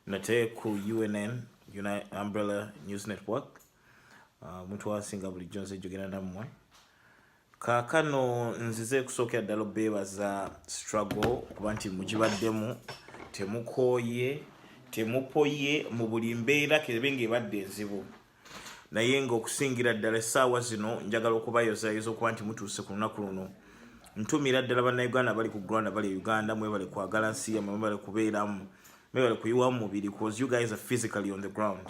nate ku unn United umbrella news network uh, omuntu uh, wasinga bulijjo nze jogera nammwe kaakano nzize ekusookera ddala obeebaza struggle okuba nti mugibaddemu temukooye temupoye mu buli mbeera kerebe ng'ebadde enzibu naye nga okusingira ddala essaawa zino njagala okubayozayoza okuba nti mutuuse ku lunaku luno ntumira ddala bannayuganda bali ku granda bali e uganda mwebale kwagala nsi yamwe mwebale kubeeramu mwebale kuyiwa mu mubiri cause you guys are physically on the ground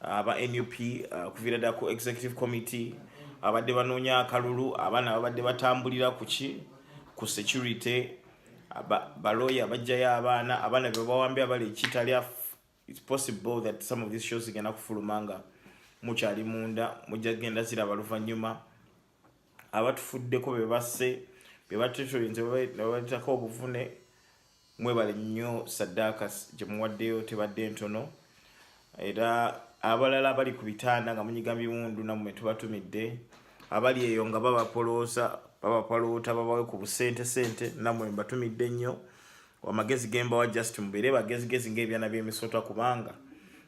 aba nup uh, okuviira ddala ku executive committee abadde banoonya akalulu abaana babadde batambulira kuki ku security baloya bajjayo abaana abaana bebawambye abali ekitali It's possible that some of these shows zigenda kufuluma nga mukyali munda mujja genda ziraba luvannyuma abatufuddeko be basse be batetulinze babaletako obuvune mwebale nnyo saddaaka gye muwaddeyo tebadde ntono era abalala abali ku bitanda nga munyiga biwundu namwe tubatumidde abali eyo nga babapolooza babapaloota babawe ku busente sente namwe mbatumidde nnyo amagezi gembawa just mubeere bagezigezi ngaebyana byemisota kubanga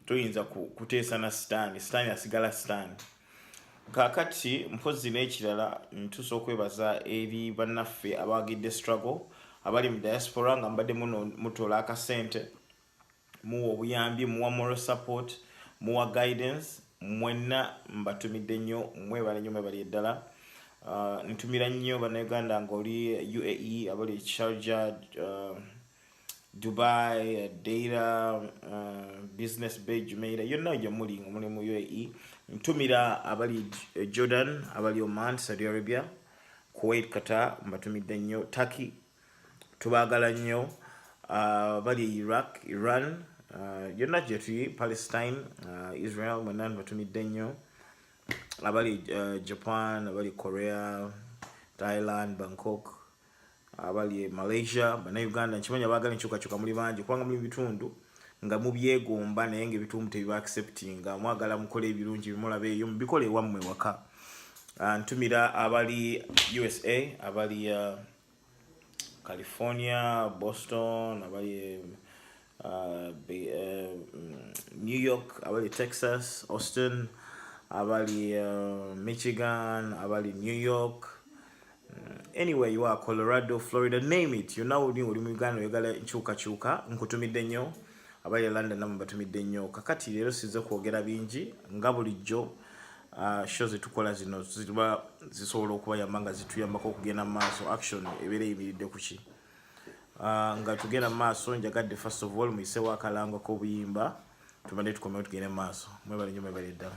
toyinza kuteesa na sitaani sitaani asigala sitaani kakati mpozi n'ekirala ntuusa okwebaza eri bannaffe abawagidde struggle abali mu diaspora nga mbadde mutola akasente muwa obuyambi muwa moral support muwa guidance mwenna mbatumidde nnyo mwebale nnyo mwebali eddala uh, ntumira nnyo banauganda ngaoli uae abali ekisharja uh, dubai deira uh, business bay jumeira yonna oja muli nga muli mu uae ntumira abali jordan abali oman saudi arabia kuwait qatar mbatumidde nnyo turkey tubagala nnyo uh, bali e iraq iran uh, yonna uh, gyetuli palestine uh, israel mwena nbatumidde nnyo abali uh, japan abali korea thailand bangkok abali malaysia banauganda nkimanya bagala enkyukakyuka muli bangi kubanga muli bitundu nga mubyegomba naye nga ebitundu tebibaacceptinga mwagala mukole ebirungi bimulaba eyo mubikole ewammwe waka uh, ntumira abali usa abali uh, California, Boston, abali e, uh, be, uh, New York, abali Texas, Austin, abali uh, Michigan, abali New York, mm, anywhere you are, Colorado, Florida, name it. You now uli mu Uganda oyagala nkyuka kyuka nkutumidde nnyo. abayi e london namwe batumidde nnyo kakati leero sinze kwogera bingi nga bulijjo uh, sho zetukola zino ziba zisobola okubayamba nga zituyambako okugenda mu maaso action ebeera eyimiridde ku ki uh, nga tugenda mu maaso njagadde first of all muyisewo akalango k'obuyimba tubadde tukomewo tugende mu maaso mwebale nyo mwebale ddala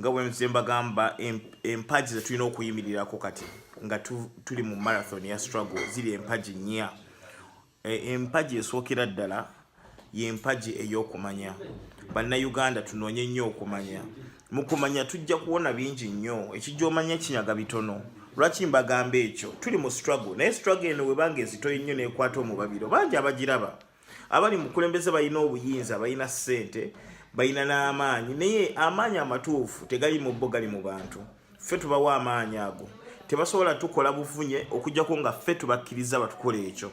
nga bwenze mbagamba empagi zetulina okuyimirirako kati nga tuli mu marathon ya struggle ziri empagi nnya E, empagi esookera ddala y'empagi ey'okumanya bannayuganda tunoonye nnyo okumanya mu kumanya tujja kuwona bingi nnyo ekijja omanya kinyaga bitono lwaki mbagamba ekyo tuli mu struggle naye struggle eno webanga ezitoyi nnyo nekwata omubabiro bangi abagiraba abali mukulembeze balina obuyinza balina ssente balina n'amaanyi naye amaanyi amatuufu tegali mu bo gali mu bantu ffe tubawa amaanyi ago tebasobola tukola buvunye okujjako nga ffe tubakkiriza batukola ekyo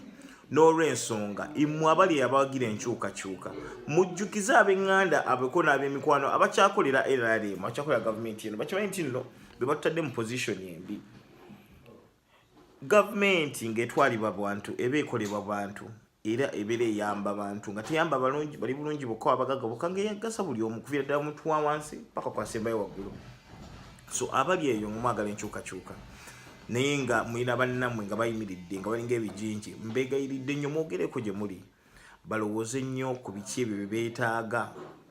n'olwensonga imwe abali abawagira enkyukakyuka mujjukize ab'eŋŋanda abeko n'ab'emikwano abakyakolera nrm abakyakolera gavumenti eno bakimanyi nti nno be batutadde mu pozisioni embi gavumenti ng'etwalibwa bantu eba ekolebwa bantu era ebeera eyamba bantu nga teyamba balungi bali bulungi bokka abagaga bokka ngeyagasa buli omu kuviira ddala omuntu wa wansi paka kwasembayo waggulu so abali eyo ngumwagala enkyukakyuka naye nga mulina bannamwe nga bayimiridde nga balinga ebijinji mbegayiridde nnyo mwogereko gye muli balowooze nnyo ku biki ebyo bye beetaaga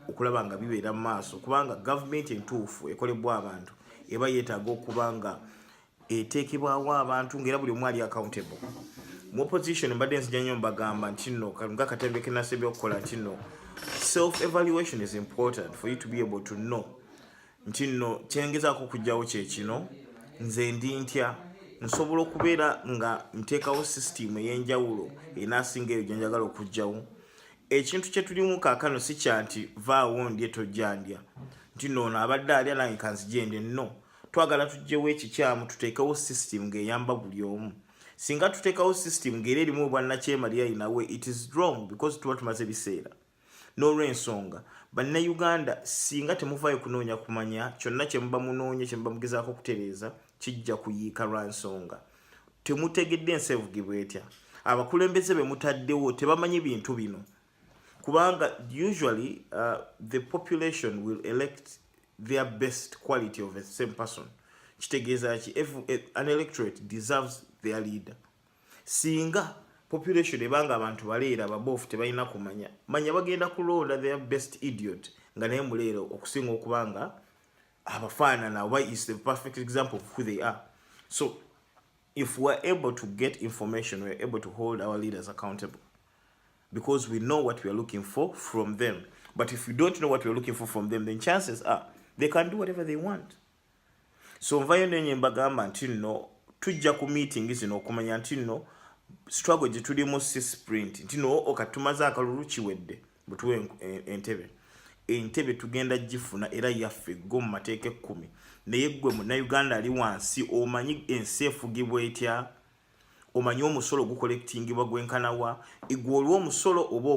okulaba nga bibeera mu maaso kubanga gavumenti entuufu ekolebwa abantu eba yeetaaga okuba nga eteekebwawo abantu ngaera buli omu ali accountable mu opposition mbadde nzija nnyo mbagamba nti no nga katembe kenasa ebyokukola nti no self evaluation is important for you to be able to know nti no kyengezaako okugjawo kyekino nze ndi ntya nsobola okubeera nga nteekawo system eyenjawulo enasinga eyo gyenjagala okugjawo ekintu kyetulimu kakano si kyanti vaawo ndye tojjandya nti noono abadde alya nange kanzijende no twagala tujjewo ekikyamu tuteekewo system ng'eyamba buli omu singa tuteekawo system ng'era erimu obwannakyemalira inawe it is wrong because tuba tumaze biseera n'olwensonga bannayuganda singa temuvaayo kunoonya kumanya kyonna kyemuba munoonya kyemuba mugezaako okutereeza kijja kuyiika lwa nsonga temutegedde ensi evugibwa etya abakulembeze be mutaddewo tebamanyi bintu bino kubanga usually uh, the population will elect their best quality of a same person kitegeeza ki eh, an electorate deserves their leader singa population ebanga abantu baleera babofu tebalina kumanya manya bagenda kulonda their best idiot nga naye muleero okusinga okuba nga abafaanana oba is the perfect example of who they are so if weare able to get information weare able to hold our leaders accountable because we know what we are looking for from them. But if we don't know what we are looking for from them, then chances are they can do whatever they want. So nvayo nenye mbagamba nti no tujja ku meeting zino okumanya nti no struggle gye tulimu si sprint nti no okatumaze akalulu kiwedde butuwe entebe entebe tugenda gifuna era yaffe go mu mateeka ekkumi naye ggwe munauganda ali wansi omanyi ensi efugibwa etya omanyi omusolo gukolektingibwa gwenkanawa igwe olwa omusolo oba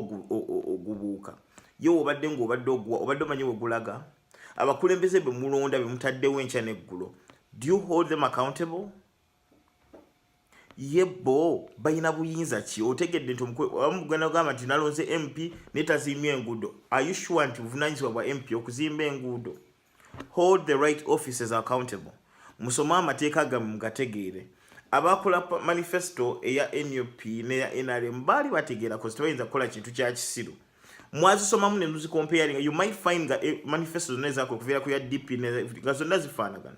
ogubuuka ye obadde ngaobadde oguwa obadde omanyi wegulaga abakulembeze bemulonda bemutaddewo enkya neggulo do you hold them accountable ye bo balina buyinza ki otegedde nti omugenda ogamba nti nalonze mp netaziimya enguudo ayushuwa nti buvunanyizibwa bwa mp okuzimba enguudo hold the right offices accountable musome amateeka gamu mugategeere abakola manifesto eya nup neya nrm baali bategeera kozi tebayinza kukola kintu kya kisiru mwazisomamu ne muzikompeyalinga you might find nga eh, manifesto zonna ezakola okuviira ku ya dp nga zonna zifaanagana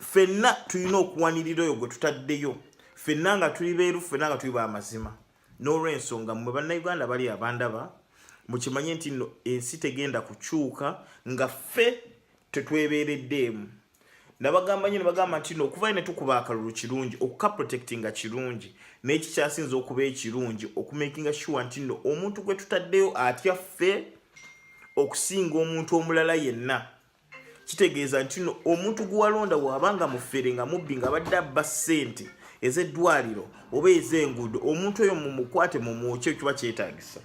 fenna tulina okuwanirira oyo gwe tutaddeyo fenna nga tuli beeru fenna nga tuli bamazima n'olwensonga mwe bannayuganda bali abandaba mukimanye nti no ensi tegenda kukyuka nga ffe tetwebeereddeemu nabagamba nyo nebagamba nti no okuvayo netukuba akalulu kirungi okuka protectinga kirungi naye kikyasinza okuba ekirungi okumakinga sure nti no omuntu gwe tutaddeyo atya ffe okusinga omuntu omulala yenna kitegeeza nti no omuntu gwewalonda waaba nga mufere nga mubbi nga badde abba ssente ezeddwaliro oba ezenguudo omuntu oyo mumukwate mumwokye kiba kyetagisa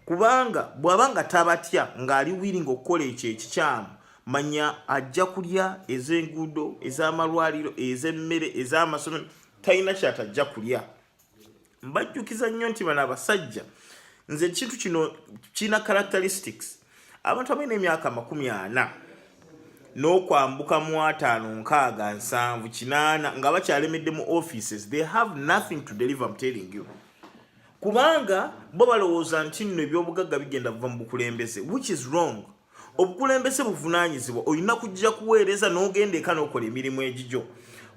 kubanga bwaba nga tabatya ngaali wiringa okukola ekyo ekikyamu manya ajja kulya ezenguudo ezamalwaliro ezemmere ezamasomero talina kyatajja kulya mbajjukiza nnyo nti bano abasajja nze ekintu kino kirina characteristics abantu abalina emyaka amakumi ana n'okwambuka mu ataano nkaaga nsanvu kinaana nga bakyalemedde mu offices they have nothing to deliver mtelling you kubanga bo balowooza nti nno ebyobugagga bigenda buva mu bukulembeze which is wrong obukulembeze buvunaanyizibwa olina kujja kuweereza n'ogenda eka n'okola emirimu egigyo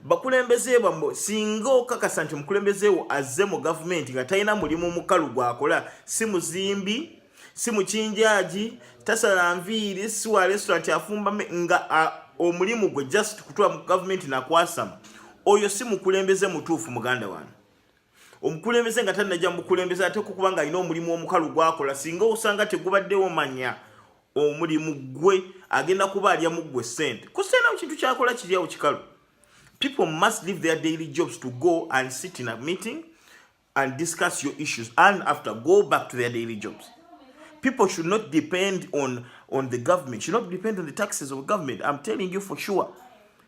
bakulembeze bamwe singa okakasa nti omukulembeze wo azze mu gavumenti nga talina mulimu mukalu gwakola si muzimbi si mukinjaagi tasala nviiri si wa restaurant afumba nga omulimu gwe just kutula mu gavumenti nakwasama oyo si mukulembeze mutuufu muganda wange omukulembeze nga tanajja mukulembeze ate kukuba nga alina omulimu omukalu gwakola singa osanga tegubaddewo manya omulimu gwe agenda kuba alya muggwe sente kuseena mu kintu kyakola kiryawo kikalu people must leave their daily jobs to go and sit in a meeting and discuss your issues and after go back to their daily jobs people should not depend on on the government should not depend on the taxes of government i'm telling you for sure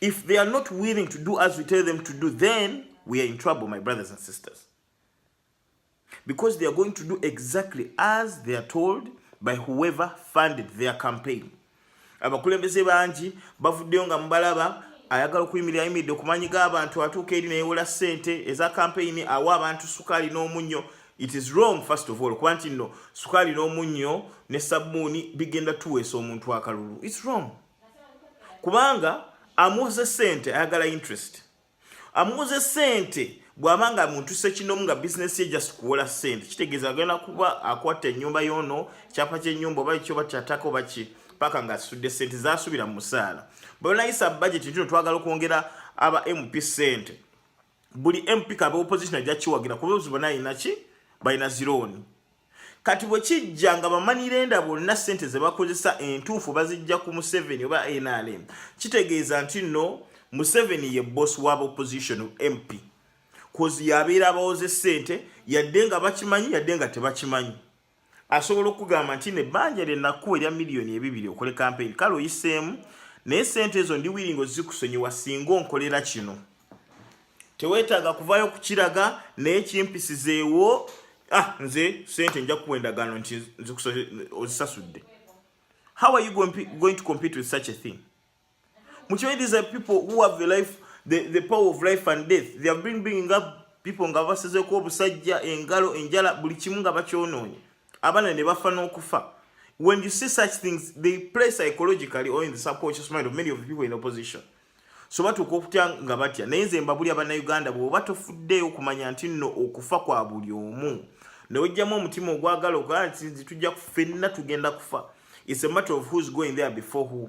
If they are not willing to do as we tell them to do, then we are in trouble, my brothers and sisters. Because they are going to do exactly as they are told by whoever funded their campaign. abakulembeze bangi bavuddeyo nga mubalaba ayagala okuyimirira ayimiridde okumanyi g'abantu atuuka eri neyewola ssente eza kampeyini awa abantu sukaali n'omunnyo it is wrong first of all kuba nti nno sukaali n'omunnyo ne sabbuuni bigenda tuweesa omuntu akalulu its wrong kubanga amuuze sente ayagala interest amuuze sente bwaba nga muntu sekinomu nga bizinesi ye just kuwola sente kitegeeza agenda kuba akwata enyumba yono kyapa kyenyumba oba kyoba kyatako baki paka nga asudde sente zasubira mu musaala bwebanayisa bajeti ntino twagala okwongera aba mp sente buli mp kaba opposition ajja kiwagira kuba obuzibu bona alina ki balina zirooni kati bwe kijja nga bamanirenda bonna ssente ze bakozesa entuufu bazijja ku museveni oba nrm kitegeeza nti nno museveni ye boss wa opposition mp kozi yabeera abawooze ssente yadde nga bakimanyi yadde nga tebakimanyi asobola okugamba nti ne banja lye nakuwa erya miliyoni ebibiri okole kampeyini kale oyiseemu naye sente ezo ndi wiringo zikusonyiwa singa onkolera kino teweetaaga kuvaayo okukiraga naye kimpisizeewo ah, nze sente nja kuwa endagaano nti ozisasudde how are you going to compete with such a thing mukimanyi these are people who have the life the, the power of life and death they have been bringing up people nga basizeko obusajja engalo enjala buli kimu nga bakyonoonye abaana ne bafa n'okufa when you see such things they play psychologically or in the subconscious mind of many of the people in opposition so batuuka okutya nga batya naye nze mbabuli abanauganda bwoba tofuddeeyo okumanya nti nno okufa kwa buli omu newejjamu omutima ogwagala ogaa nti tujja kufenna tugenda kufa its a matter of who's going there before who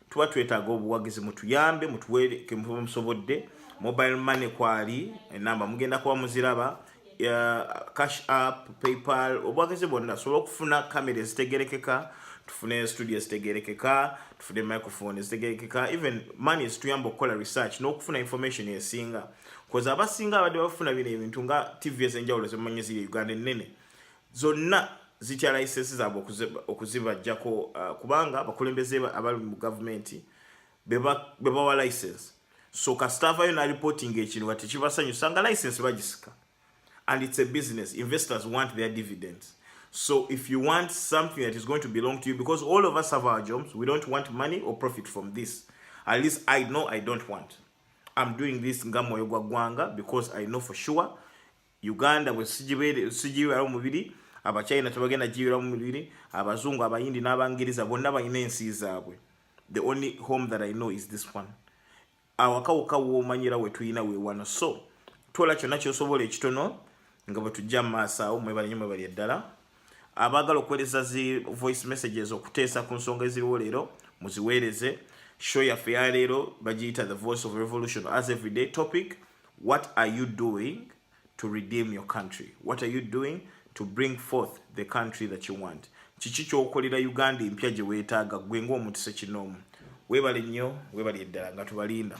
tuba twetaaga obuwagizi mutuyambe mutuwe kemuba musobodde mobile money kwali enamba mugenda kuba muziraba cash app paypal obuwagizi bwonna tusobole okufuna kamera ezitegerekeka tufune studio ezitegerekeka tufune microphone ezitegerekeka even money zituyamba okukola research n'okufuna information esinga koza abasinga abadde bafuna bino ebintu nga tv ezenjawulo zemumanyi ziri uganda ennene zonna zitya layisensi zaabwe okuzibajjako uh, kubanga abakulembeze abali mu gavumenti bebawa layisensi so kasita avayo nalipotinga ekintu nga tekibasanyusa nga layisensi bagisika and it's a business investors want their dividends so if you want something that is going to belong to you because all of us have our jobs we don't want money or profit from this at least i know i don't want i'm doing this nga mwoyo gwa gwanga because i know for sure uganda bwesigibeera omubiri abachina tebagenda gibeera omubiri abazungu abayindi n'abangereza bonna balina ensi zaabwe the only home that i know is this one awakawuka womanyira wetulina wewano so tola kyonna kyosobola ekitono nga bwetujja mumaaso awo mwebalenyo mwebalya ddala abaagala okuweereza zi voice messages okuteesa ku nsonga eziriwo leero muziweereze show yaffe ya leero bagiyita the voice of revolution as everyday topic What are you doing to redeem your country? What are you doing to bring forth the country that you want? Kiki kyokolera Uganda empya gye weetaaga gwe ng'omuntu sekinoomu? Weebale nnyo, weebale eddala nga tubalinda.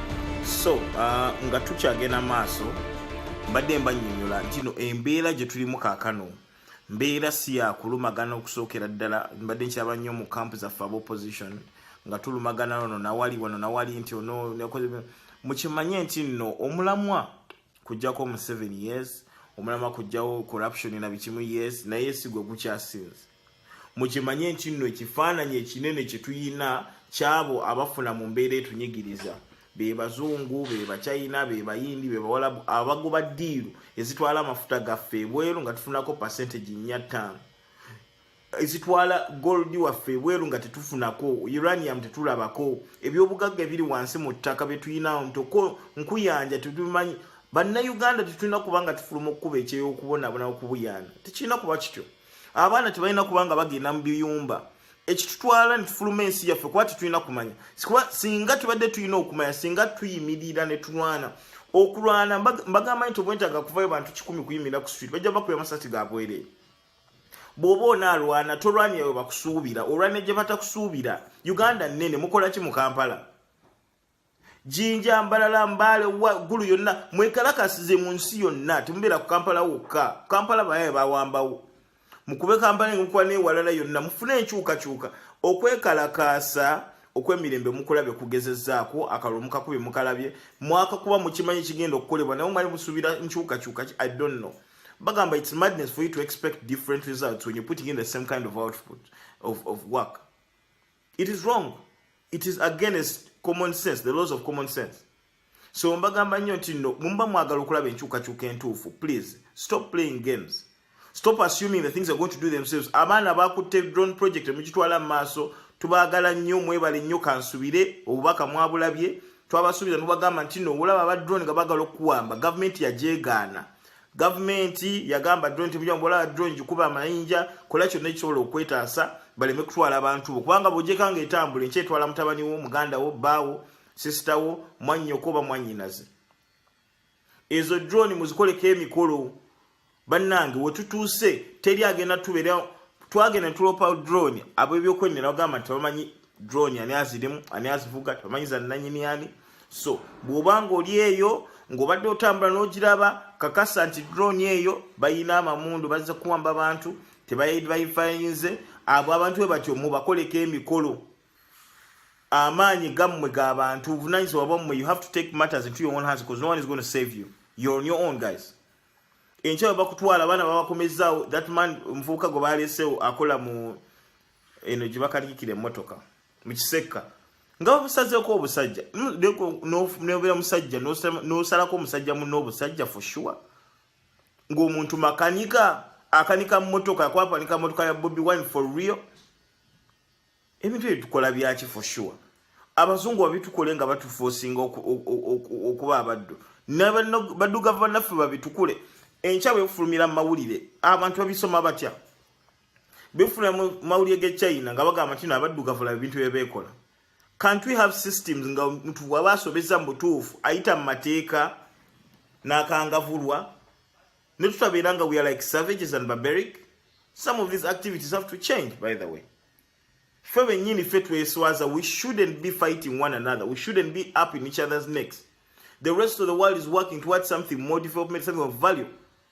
so uh, nga tukyagenda maaso mbadde mbanyonyola ntino embeera gye tulimu kaakano mbeera si yakulumagana okusookera ddala mbadde nkyaba nnyo mu kampu zaffe aba opposition nga tulumagana ono nawali wano nawali nti ono mukimanye nti nno omulamwa kujjako mu seven years omulamwa kujjawo corruption na bikimu years naye sigwe gukyasinze mukimanye nti nno ekifaananyi ekinene kye tuyina kyabo abafuna mu mbeera etunyigiriza be bazungu be bachina be bayindi be bawalabu abagoba ddiiru ezitwala amafuta gaffe ebweru nga tufunako percentage nnya ttaano ezitwala gold waffe ebweru nga tetufunako uranium tetulabako ebyobugagga ebiri wansi mu ttaka bye tuyinawo ntoko nkuyanja tetumanyi bannayuganda tetulina kuba nga tufuluma okukuba ekyeyokubonabonawo kubuyana tekirina kuba kityo abaana tebalina kubanga bagenda mu biyumba ekitutwala nitufuluma ensi yaffe kuba tetulina kumanya sikuba singa tubadde tulina okumanya singa tuyimirira ne tulwana okulwana mbagamba nti obwentaga kuvayo bantu kikumi kuyimirira ku street bajja bakuba amasasi gabwerere bwoba onaalwana tolwanira we bakusuubira olwanira gye batakusuubira uganda nnene mukola ki mu kampala jinja mbalala mbale gulu yonna mwekalakasize mu nsi yonna temubeera ku kampala wokka kampala bayaye bawambawo mukube kampala enkukuba newalala yonna mufune enkyukakyuka okwekalakaasa okwemirembe mukulabye kugezezaako akalulu mukakubye mukalabye mwaka kuba mukimanyi kigenda okukolebwa naye omwali musuubira nkyukakyuka i don't know bagamba its madness for you to expect different results when you're putting in the same kind of output of, of work it is wrong it is against common sense the laws of common sense so mbagamba nnyo nti no mumba mwagala okulaba enkyukakyuka entuufu please stop playing games stop assuming the things are going to do themselves abaana bakutte drone project mugitwala mu maaso tubagala nnyo mwebale nnyo kansubire obubaka mwabulabye twabasuubiza nubagamba nti no olaba aba drone nga bagala okuwamba gavumenti yajegaana gavumenti yagamba drone nti mujja mbola drone gikuba amayinja kola kyonna ekisobola okwetaasa baleme kutwala abantu bo kubanga bwojjeka nga etambula enkya etwala mutabani wo muganda wo bbaawo sisita wo mwannyoko oba mwannyinaze ezo drone muzikoleko emikolo bannange wetutuuse teri agenda tubeera twagenda tulopa drone ab'ebyokwennera bagamba nti bamanyi drone ani azirimu ani azivuga tebamanyi za nnanyini ani so bw'oba ng'oli eyo ng'obadde otambula n'ogiraba kakasa nti drone eyo bayina amamundu bazze kuwamba bantu tebayifainze abo abantu bwe batyo mubakoleko emikolo amaanyi gammwe ga bantu obuvunanyizibwa bwammwe you have to take matters into your own hands because no one is going to save you you're on your own guys enkya bwe bakutwala abaana babakomezzaawo that man omuvubuka gwe baleesewo akola mu eno gye bakalikira emmotoka mu kisekka nga babusazeeko obusajja nobeera musajja nosalako omusajja muno obusajja for sure ng'omuntu makanika akanika mmotoka akwapanika mmotoka ya bobi wine for real ebintu ebyo tukola byaki for sure abazungu babitukole nga batufosinga okuba abaddu badugavu banaffe babitukule enkya bwefulumira mu mawulire abantu babisoma batya befuna mawulire ge China nga bagamba kino abaddugavu la bintu bye bekola can't we have systems nga mtu waba asobeza mbutufu aita mateeka nakangavulwa ne tutabera nga we are like savages and barbaric some of these activities have to change by the way fe benyini fe tweswaza we shouldn't be fighting one another we shouldn't be up in each other's necks the rest of the world is working towards something more development something of value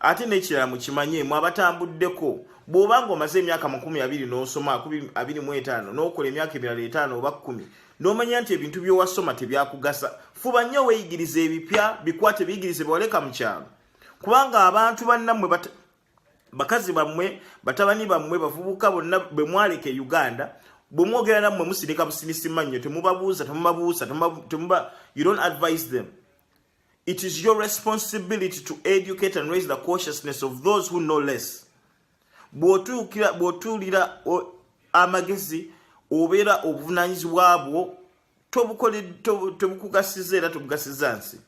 ate n'ekirala mukimanye mwe abatambuddeko bw'oba nga omaze emyaka makumi abiri n'osoma abiri mu etaano n'okola emyaka emirala etaano oba kkumi n'omanya nti ebintu by'owasoma tebyakugasa fuba nnyo weeyigiriza ebipya bikwate biyigirize bewaleka mu kyalo kubanga abantu bannammwe bakazi bammwe batabani bammwe bavubuka bonna bwe mwaleka e uganda bwe mwogera nammwe musirika businisima nnyo temubabuuza temubabuusa temuba you don't advise them It is your responsibility to educate and raise the consciousness of those who know less. Bw'otuukira bw'otuulira amagezi obeera obuvunaanyizibwa bwo tobukugasiza era tobugasiza nsi.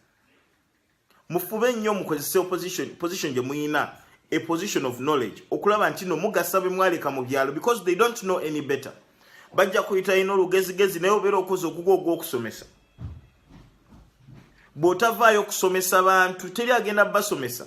Mufube nnyo mukozese opposition position gye muyina a position of knowledge okulaba nti no mugasa be mwaleka mu byalo because they don't know any better. Bajja kuyita ino olugezigezi naye obeera okoze ogugo ogw'okusomesa. bw'otavaayo okusomesa bantu teri agenda basomesa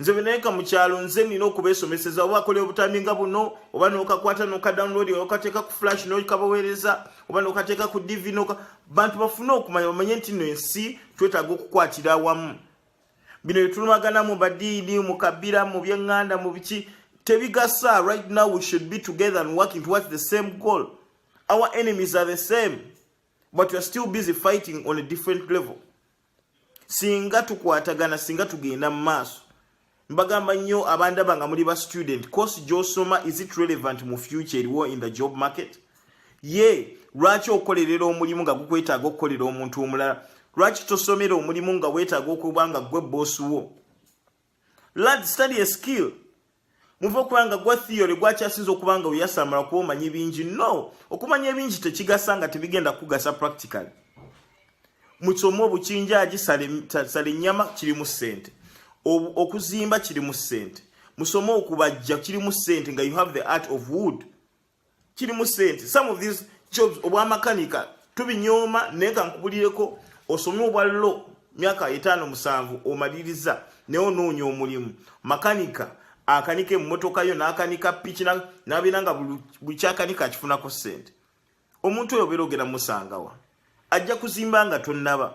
nze benayenka mu kyalo nze nina okubesomeseza oba akola obutambi nga buno oba nokakwata nokadownload okateeka ku flash nokabaweereza oba nokateeka ku dv noka bantu bafune okumanya bamanye nti no ensi twetaaga okukwatira awamu bino byetulumagana mu badiini mu kabira mu byeŋŋanda mu biki tebigasa right now we should be together and working towards the same goal our enemies are the same but you're still busy fighting on a different level singa tukwatagana singa tugenda mu maaso mbagamba nnyo abandaba nga muli ba student course gyosoma is it relevant mu future eriwo in the job market ye lwaki okolerera omulimu nga gukwetaaga okukolera omuntu omulala lwaki tosomera omulimu nga wetaaga okuba nga gwe boosi wo Lad study a skill. Muve okulanga gwa theory gwakyasinza okuba nga oyasamala kuba omanyi bingi. No, okumanya ebingi tekigasa nga tebigenda kugasa practically. Mukisomo obukinjaaji sala ennyama kirimu ssente. Okuzimba kirimu ssente. Musome okubajja kirimu ssente nga you have the art of wood. kirimu sente some of these jobs obwamakanika tubinyooma naye kankubulireko osome obwa lo myaka etaano musanvu omaliriza naye onoonya omulimu makanika akanika emmotoka yo n'akanika piki nabeera nga buli kyakanika akifunako sente omuntu oyo obeera ogenda musangawa ajja kuzimba nga tonnaba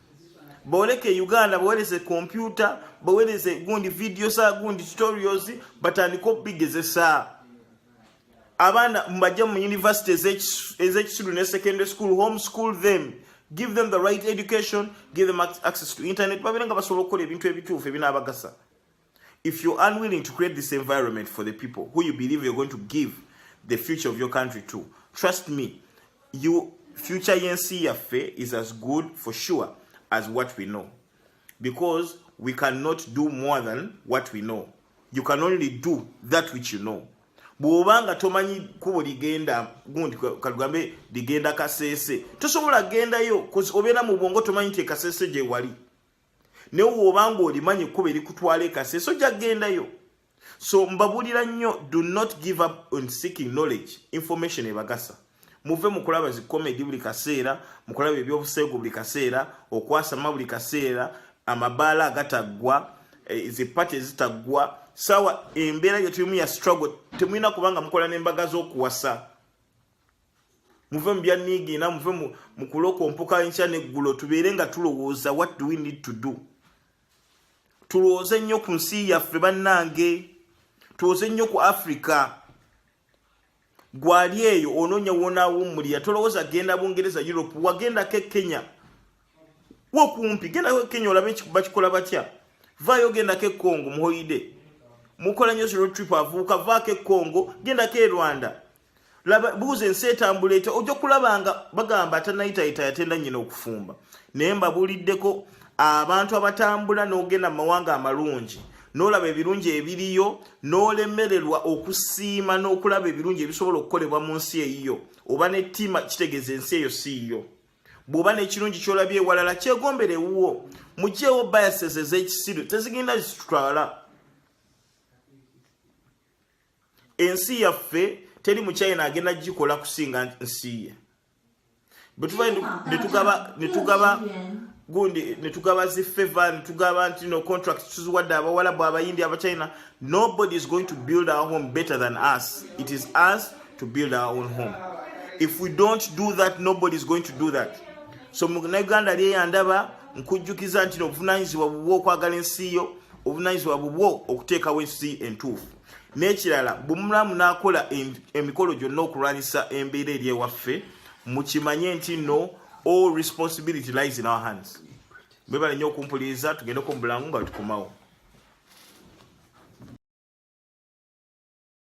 boleke uganda baweleze kompyuta baweleze gundi video za gundi tutorials batandika okubigezesa abaana mubajja mu university ezekisiru ne secondary school home school them give them the right education give them access to internet babeera nga basobola okukola ebintu ebituufu ebinaabagasa If you're unwilling to create this environment for the people who you believe you're going to give the future of your country to, trust me, you future yensi yaffe is as good for sure as what we know because we cannot do more than what we know you can only do that which you know bw'oba nga tomanyi kubo ligenda gundi katugambe ligenda kaseese tosobola gendayo obeera mu bwongo tomanyi nti ekasese gyewali naye woba nga olimanyi ekkuba erikutwala ekaseeso jaggendayo so mbabulira nnyo do not give up on seeking knowledge information ebagasa muve mukulaba zi comedy buli kaseera mukulaba ebyobuseegu buli kaseera okwasama buli kaseera amabaala agataggwa eh, zipati ezitaggwa sawa embeera gyetulimu ya struggle temulina kubanga mukola nembaga z'okuwasa muve mu byanniigiina muve mu kulokompoka nkya neggulo tubeere nga tulowooza what do we need to do tulowooze nnyo ku nsi yaffe bannange tulowooze nnyo ku africa gwali eyo onoonya wonaawummulira tolowooza genda bungereza europe wagendako e kenya wokumpi gendako e kenya olabe bakikola batya vaayo gendako e congo muhoide mukola nyo zero trip avuuka vaako e congo gendako e rwanda laba buuza ensi etambula etya ojja kulaba nga bagamba atanayitayita yatenda nyina okufumba naye mbabuuliddeko abantu abatambula n'ogenda mu mawanga amalungi n'olaba ebirungi ebiriyo n'olemererwa okusiima n'okulaba ebirungi ebisobola okukolebwa mu nsi eyiyo oba nettima kitegeeza ensi eyo siiyo bw'oba n'ekirungi ky'olabye ewalala kyegombera ewuwo mugyewo biases ez'ekisiru tezigenda zitutwala ensi yaffe teri muchina agenda gikola kusinga nsiye gundi netugaba zifeva netugaba nti no contract tuziwadde abawalabu abayindi abachina nobody is going to build our home better than us it is us to build our own home if we don't do that nobody is going to do that so munaganda lyeyandaba nkujjukiza nti nobuvunanyizibwa bubwa okwagala ensi yo obunayizibwa bubwo okuteekawo ensi entuufu n'ekirala bumulamu n'akola emikolo gyonna okulwanyisa embeera eri ewaffe mukimanye nti no all responsibility lies in our hands bwebale nnyo okumpuliriza tugendeko mu bulangu nga tukomawo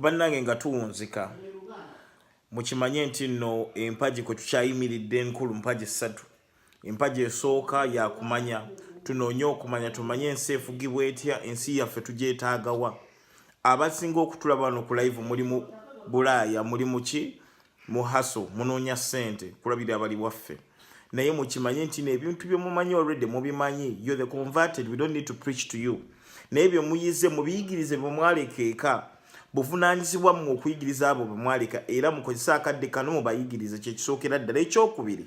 bannange nga tuwunzika mukimanye nti nno empagi kwe tukyayimiridde enkulu mpagi ssatu empagi esooka yakumanya tunoonye okumanya tumanye ensi efugibwa etya ensi yaffe tugyetaagawa abasinga okutulaba wano ku live mulimu bulaaya mulimu ki mu haso munoonya sente kulabira abali waffe naye mukimanye nti nebintu byemumanyi already mubimanyi yo the converted we don't need to preach to you naye byemuyize mubiyigirize bwemwaleka eka buvunanyizibwa mu okuyigiriza abo bwemwaleka era mukozese akadde kano mubayigirize kyekisookera ddala ekyokubiri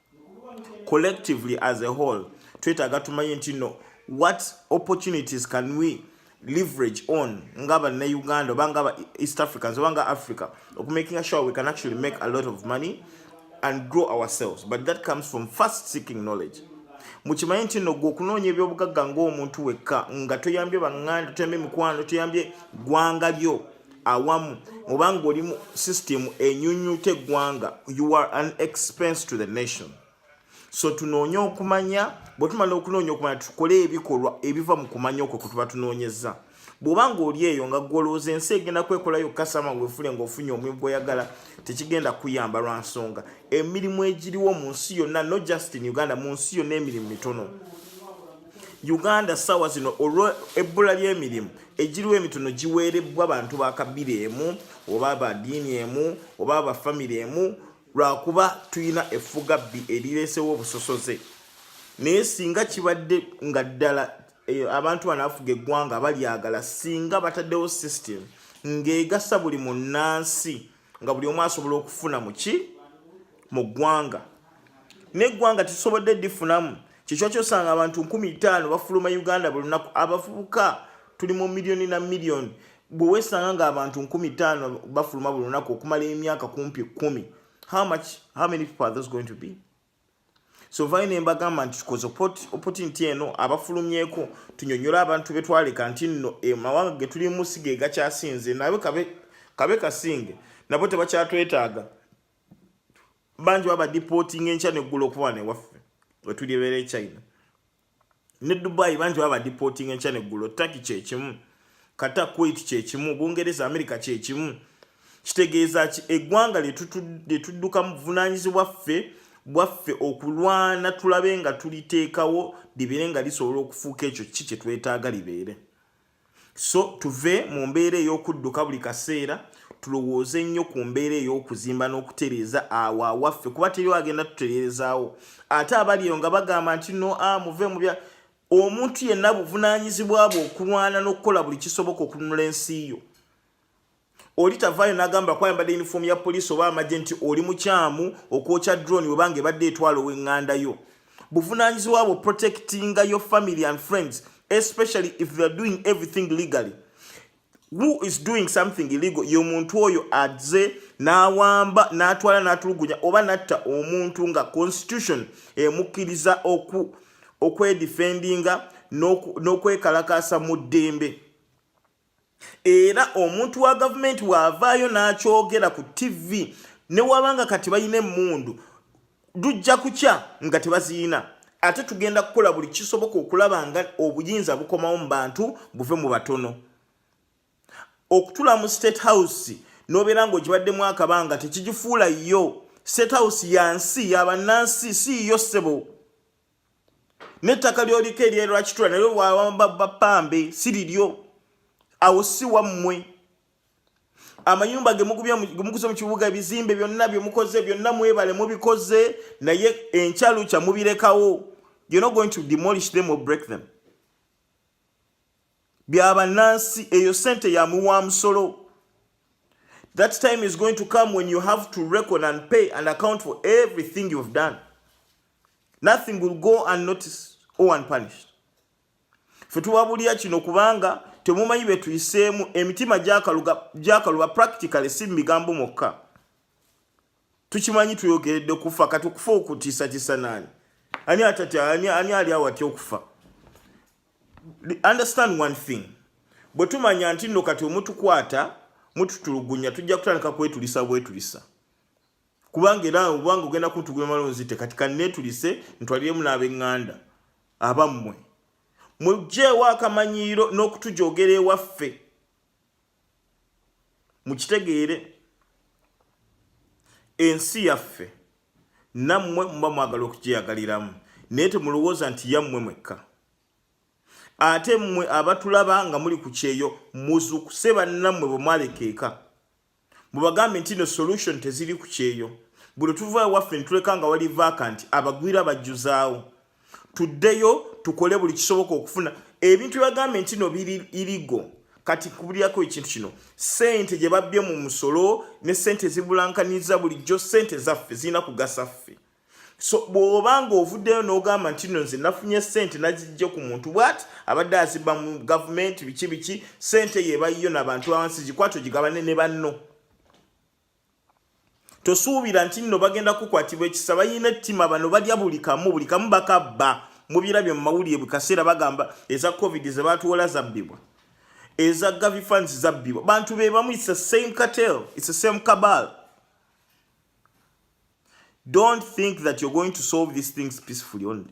collectively as a whole twetaaga tumanye nti no what opportunities can we leverage on nga bannauganda oba nga east africans oba nga africa okumakinga sure we can actually make a lot of money and grow ourselves but that comes from first seeking knowledge mukimanye nti no gwe okunoonya ebyobugagga ngaomuntu wekka nga toyambye banganda toyambye mikwano toyambye gwanga lyo awamu oba ng'oli mu system enyunyuta eggwanga you are an expense to the nation so tunoonye okumanya bwe tumala okunoonya okumanya tukole ebikolwa ebiva mu kumanya okwo kwe tuba tunoonyeza bw'oba ng'oli eyo nga gwolowooza ensi egenda kwekolayo kasama wefule ng'ofunye omulimu gweyagala tekigenda kuyamba lwa nsonga emirimu egiriwo mu nsi yonna no just in uganda mu nsi yonna emirimu mitono uganda sawa zino olw ebbula ly'emirimu egiriwo emitono giweerebbwa bantu ba kabira emu oba ba diini emu oba ba famire emu lwakuba tulina effugabbi erireesewo obusosoze naye singa kibadde nga ddala eh, abantu banaafuga eggwanga balyagala singa bataddewo system ng'egasa buli munnansi nga buli omu asobola okufuna muki mu ggwanga neggwanga tusobodde difunamu kyekyo kyosanga abantu nkumi itaano bafuluma uganda buli lunaku abavubuka tuli mu miliyoni na miliyoni bwe wesanga ngaabantu nkumi ttaano bafuluma buli lunaku okumala emyaka kumpi kumi how much how many people are those going to be so vayo nembagamba nti tukoze opotinti eno abafulumyeko tunyonyola abantu betwaleka nti nno amawanga eh, getulimu si ge gakyasinze nabe kabe kasinge nabo tebakyatwetaaga bangi baba deporting enkya neggula okuba newaffe wetuli ebeera e china ne dubai bangi baba deporting enkya neggulo taki kyekimu kata kuwait kyekimu bungereza amerika kyekimu kitegeeza ki eggwanga lyetudduka mu buvunanyizibwa ffe bwaffe okulwana tulabe nga tuliteekawo libeere nga lisobola okufuuka ekyo ki kyetwetaaga libeere So tuve mu mbeera ey'okudduka buli kaseera tulowooze nnyo ku mbeera ey'okuzimba n'okutereeza awo awaffe kuba teriwo agenda tutereerezaawo ate abali eyo nga bagamba nti no a ah, muve mu bya omuntu yenna buvunaanyizibwa bwe okulwana n'okukola buli kisoboka okununula ensi yo oli tavaayo n'agamba kwayambadde yunifoomu ya poliisi oba amagye nti oli mukyamu okwokya drone webanga ebadde etwala ow'enganda yo buvunaanyizibwa bwo protectinga your family and friends especially if youare doing everything legally who is doing something illegal ye omuntu oyo aze n'awamba n'atwala n'atulugunya oba natta omuntu nga constitution emukkiriza okwedifendinga n'okwekalakaasa mu ddembe era omuntu wa gavumenti waavaayo n'akyogera ku ttivi ne waba nga kati balina emmundu lujja kukya nga tebaziyina ate tugenda kukola buli kisoboka okulaba nga obuyinza bukomawo mu bantu buve mu batono okutula mu state house nobeera nga ogibaddemu akabanga tekigifuula yo state house yansi yabannansi si yo ssebo n'ettaka lyoliko eryerwakitula nalyo bapambe si liryo awo si wammwe amayumba gemukuze mu kibuga ebizimbe byonna byemukoze byonna mwebale mubikoze naye enkyalukya mubirekawo you're not going to demolish them or break them bya bannansi eyo sente ya muwa musolo that time is going to come when you have to reckon and pay and account for everything you've done nothing will go unnoticed or unpunished fe tubabulira kino kubanga temumanyi bye tuyiseemu emitima gyakaluba practically si mu bigambo mwokka tukimanyi tuyogeredde kufa kati okufa okutiisatiisa naani ani atatya ani ali awo atya okufa understand one thing bwe tumanya nti nno kati omutukwata mututulugunya tujja kutandika kwetulisa bwetulisa kubanga era obanga ogenda kuntugula malonzite kati kanneetulise ntwaliremu n'abenganda abammwe mujjeewo akamanyiiro n'okutujogera ewaffe mukitegeere ensi yaffe nammwe muba mwagala okugyeyagaliramu naye temulowooza nti yammwe mwekka ate mmwe abatulaba nga muli ku kyeyo muzukuse bannammwe bwe mwalekeeka mubagambe nti no solution teziri ku kyeyo buli tuva ewaffe nituleka nga wali vaaka nti abagwira bajjuzaawo tuddeyo tukole buli kisoboka okufuna ebintu byebagambye nti no biri irigo kati kubulyako ekintu kino sente gye babbye mu musolo ne sente ezibulankaniza bulijjo sente zaffe zirina kugasa ffe so bw'oba ng'ovuddeyo n'ogamba nti no nze nafunye sente nazijje ku muntu bwat abadde azibba mu gavumenti biki biki sente yebayiyo nabantu awansi gikwata ogigabane ne banno tosuubira nti nno bagenda kukwatibwa ekisa balina ettima bano balya buli kamu buli kamu bakabba mubirabye mu mawulire buli kaseera bagamba eza covid zebatuwola zabbibwa eza gavi funds zabbibwa bantu be bamu its the same cartel its the same cabal don't think that you're going to solve these things peacefully only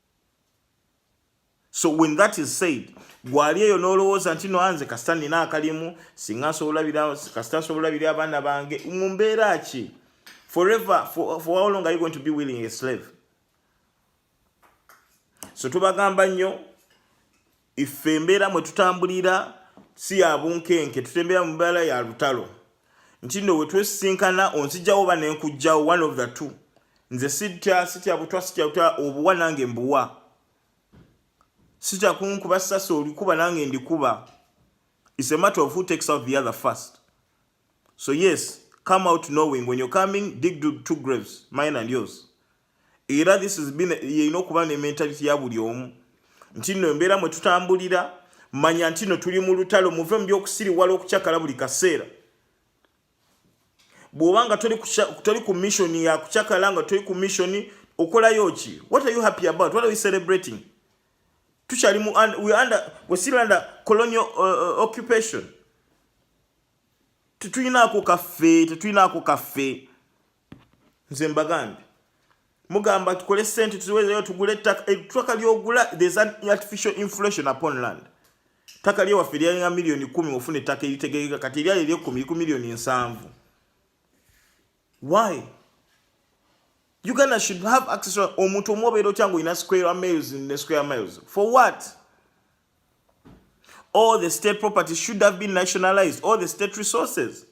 so when that is said gwali eyo nolowooza nti no anze kasita nina akalimu singa nsobola bira kasita nsobola bira abaana bange mu mbeera ki forever for, for how long are you going to be willing a slave so tubagamba nnyo Iffe embeera mwe tutambulira si ya bunkenke, tutembera mu mbeera ya lutalo. Nti nno we twesisinkana onzijawo oba ne nkujjawo, one of the two. Nze sitya, sitya butwa, sitya butwa, obuwa nange mbuwa. Sitya kunkuba sasi olikuba nange ndikuba. It's a matter of who takes out the other first. So yes, come out knowing when you're coming, dig two graves, mine and yours. era this is been yeyina okuba ne mentality ya buli omu nti no embeera mwe tutambulira manya nti no tuli mu lutalo muve mu byokusiriwala okucakala buli kaseera bw'oba nga toli ku mission ya kucakala nga toli ku mission okolayo ki what are you happy about what are you celebrating tukyali mu we under we still under colonial uh, uh, occupation tetulinaako kaffe tetulinaako kaffe nze mbagambye mugamba tukole sente tuziweereyo tugule ettaka ettaka lyogula there's an artificial inflation upon land ttaka lyewaffe lyalinga miliyoni kumi ofuna ettaka eritegeereka kati eryali eryekumi liku miliyoni ensanvu why uganda should have access omuntu omu obeera otya ngaolina square miles ne square miles for what all the state property should have been nationalized all the state resources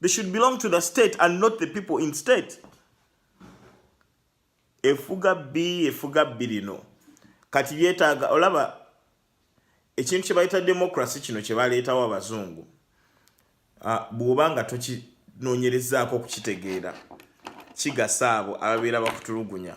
They should belong to the state and not the people in state. Efuga bi efuga birino. Kati byetaga olaba ekintu kye bayita democracy kino kye baleetawo abazungu. Ah, bw'oba nga tokinoonyerezaako okukitegeera kigasa abo ababeera bakutulugunya.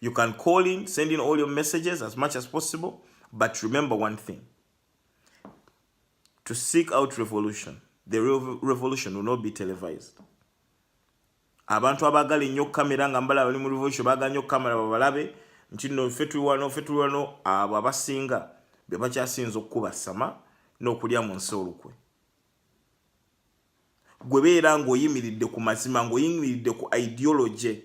You can call in, send in all your messages as much as possible, but remember one thing. To seek out revolution, the real revolution will not be televised. Abantu abagala ennyo kamera nga mbala bali mu revolution bagala nnyo kamera babalabe nti no ffe tuli wano ffe tuli wano abo abasinga be bakyasinza okukuba sama n'okulya mu nsi olukwe. gwe beera ng'oyimiridde ku mazima ng'oyimiridde ku ideology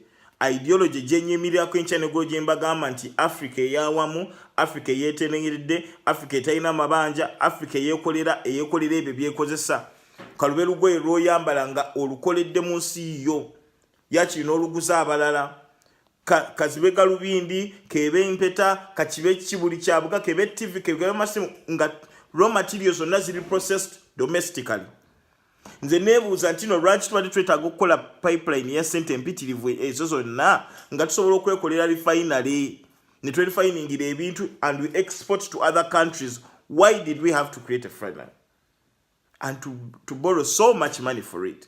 ideology gyenyimirirako enkya negolo gye mbagamba nti africa eyawamu africa eyeteneeredde africa etalina amabanja africa eyekolera eyekolera ebyo byekozesa kalube lugoye lwoyambala nga olukoledde mu nsi yo yakiri n'oluguza abalala kazibe galubindi kebe mpeta kakibe ki buli kyabuga kebe tv kebe masimu nga raw materials zonna ziri processed domestically nze nebuuza nti no lwaki tubadde twetaaga okukola pipeline ya sente empitirivu ezo zonna nga tusobola okwekolera refinery ne twerefiningira ebintu and we export to other countries why did we have to create a friday and to, to borrow so much money for it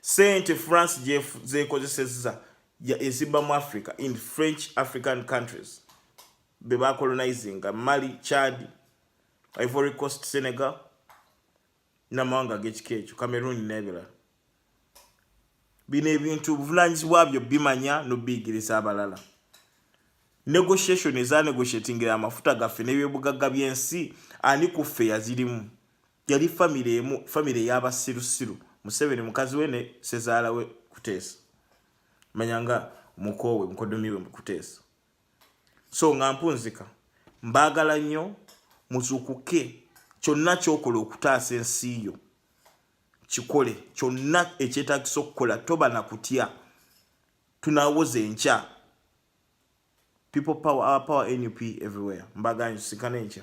sente france zekozesezza ezibba mu africa in french african countries bebacolonizinga mali chad ivory coast senegal namawanga agekika ekyo cameroon nebirala bino ebintu obuvunanyizibwa byo bimanya nobiyigiriza abalala negotiation ezanegotiatingira amafuta gaffe nebyobugagga byensi ani kuffe yazirimu yali famire emu famire eyabasirusiru museveni mukazi we ne sezaala we kuteesa manya nga mukoowe mukodomi we mukuteesa so nga mpunzika mbaagala nnyo muzukuke kyonna kyokola okutaasa ensi yo kikole kyonna ekyetagisa okukola toba na kutya tunawoza enkya people power our power nup everywhere mbaganyo sikana enkya